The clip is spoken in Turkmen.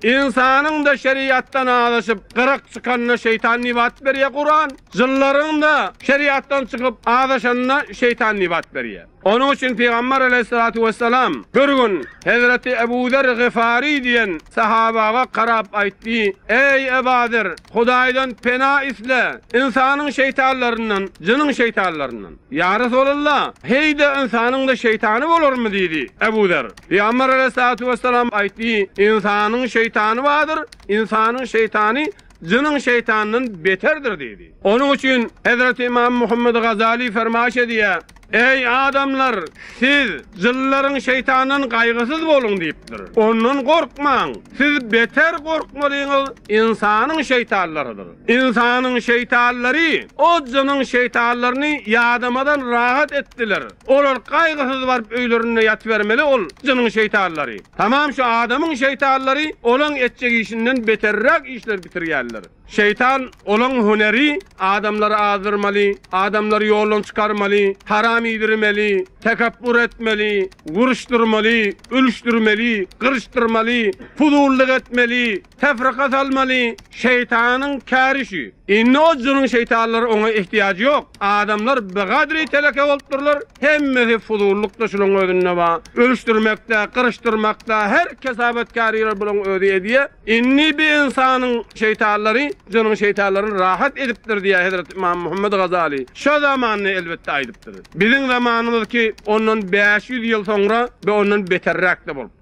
Ynsanyň-da şeriatdan azaşyp, gyrak çykanyna şeýtan nibat berýär Kuran. Jynlaryň-da şeriatdan çykyp, azaşanyna şeýtan nibat berýär. Onuň üçin Pygambar aleýhissalatu wessalam bir gün Hezreti Ebu Zer Gyfari diýen sahabaga garap aýtdy, Eý, Eba Zer, Hudaýdan pena isle, ynsanyň şeýtanlaryndan, jynyň şeýtanlaryndan. Ýa Resulallah, heý-de ynsanyň-da şeýtany bolarmy? diýdi. Ebu Zer. Pygamber Aleyhissalatu Vesselam aýtdy, Ynsanyň şeýtany bardyr, ynsanyň şeýtany jynyň şeýtanyndan beterdir diýdi. Onuň üçin Hezreti Ymam Muhammed Gazali fermaýyş edýär, Eý adamlar, siz jynlaryň şeýtanyndan gaýgysyz boluň diýipdir. Ondan gorkmaň. Siz beter gorkmalyňyz ynsanyň şeýtanlarydyr. Ynsanyň şeýtanlary Ozzanyň şeýtanlaryny ýadamadan rahat etdiler. Olar gaýgysyz baryp öýlerinde ýatybermeli ol jynyň şeýtanlary. Tamam şu adamyň şeýtanlary olaň etjek işinden beterräk işler bitirýärler. Şeýtan olaň hüneri adamlary azdyrmaly, adamlary ýoldan çykarmaly, haram iýdirmeli, tekepbur etmeli, uruşdyrmaly, ölüşdirmeli, gyryşdyrmaly, puzullyk etmeli, Tefrika salmaly şeýtanyň käri şu. Indi o jynyň şeýtanlary oňa ehtiýajy ýok. Adamlar bigadry teleke bolupdyrlar, hemmesi fuzullykda şulaň özünde ba. Ölüşdirmekde, gyryşdyrmakda her kesabatkäriler bulaň özi edýä. Indi bi ynsanyň şeýtanlary jynyň şeýtanlaryny rahat edipdir diýä Hezreti Ymam Muhammet Gazaly. Şo zamanda elbetde aýdypdyr. Biziň zamanymyz ki ondan bäş ýüz ýyl soňra bi ondan beterräk-de bolupdyr.